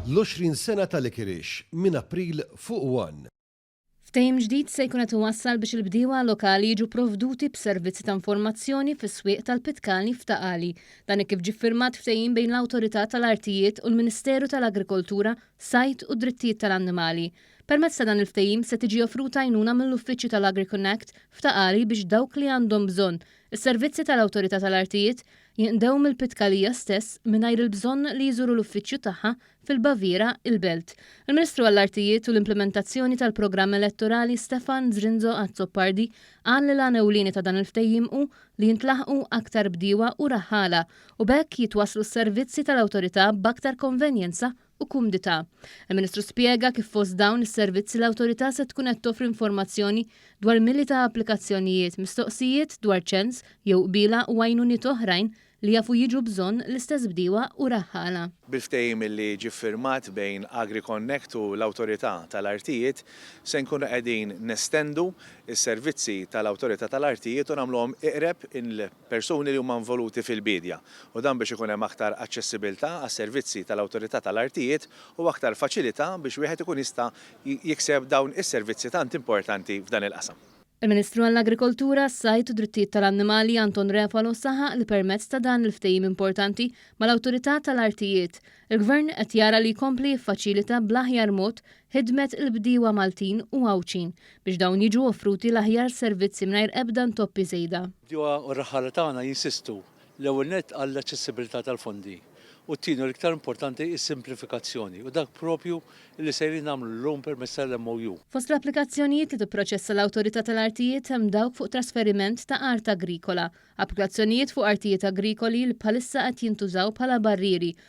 L-20 sena ta' Likirix minn April fuq one. Ftehim ġdid se jkun qed iwassal biex il-bdiewa lokali jiġu pprovduti b'servizzi ta' informazzjoni fis-swieq tal-Pitkalni f'Ta' Qali. Dan hekk kif ġie ffirmat ftehim bejn l-Awtorità tal-Artijiet u l-Ministeru tal-Agrikoltura, Sajd u d-Drittijiet tal-Annimali. Permezz ta' dan il-ftehim se tiġi offruta għajnuna mill-uffiċċju tal-AgriConnect f'Ta' Qali biex dawk li għandhom bżonn is-servizzi tal-Awtorità tal-Artijiet jinqdew mill-Pitkalija stess mingħajr il-bżonn li jżuru l-uffiċċju tagħha fil-Baviera, il-Belt. Il-Ministru għall-Artijiet u l-Implimentazzjoni tal-Programm Elettorali Stefan Zrinzo Azzopardi qal li l-għan ewlieni ta' dan il-ftehim hu li jintlaħqu aktar bdiewa u raħħala u b'hekk jitwasslu s-servizzi tal-Awtorità b'aktar konvenjenza u kumdità. Il-Ministru spjega kif fost dawn is-servizzi l-Awtorità se tkun qed toffri informazzjoni dwar mili ta' applikazzjonijiet, mistoqsijiet dwar ċens jew qbiela u għajnuniet oħrajn li jafu jiġu bżonn l-istess bdiewa u raħħala. Bil-ftehim li ġie ffirmat bejn AgriConnect u l-Awtorità tal-Artijiet, se nkunu qegħdin nestendu s-servizzi tal-Awtorità tal-Artijiet u nagħmluhom iqreb il. persuni li huma involuti fil-biedja, u dan biex ikun hemm aktar aċċessibilità għas-servizzi tal-Awtorità tal-Artijiet u aktar faċilità biex wieħed ikun jista' jikseb dawn is-servizzi tant importanti f'dan il-qasam. Il-Ministru għall-Agrikoltura, s-Sajd u d-Drittijiet tal-Annimali Anton Refalo saħaq li permezz ta' dan il-ftehim importanti mal-Awtorità tal-Artijiet, il-Gvern qed jara li jkompli jiffaċilita bl-aħjar mod ħidmet il-bdiewa Maltin u Għawdxin biex dawn jiġu offruti l-aħjar servizzi mingħajr ebda ntoppi żejda. Bdiewa u raħħala tagħna jinsistu, l-ewwel nett għall-aċċessibilità tal-fondi u t-tieni u l-iktar importanti is-simplifikazzjoni u dak proprju li sejrin nagħmlu llum permezz tal-MOU. Fost l-applikazzjonijiet li tipproċessa l-Awtorità tal-Artijiet hemm dawk fuq trasferiment ta' art agrikola, applikazzjonijiet fuq artijiet agrikoli li bħalissa qed jintużaw bħala barrieri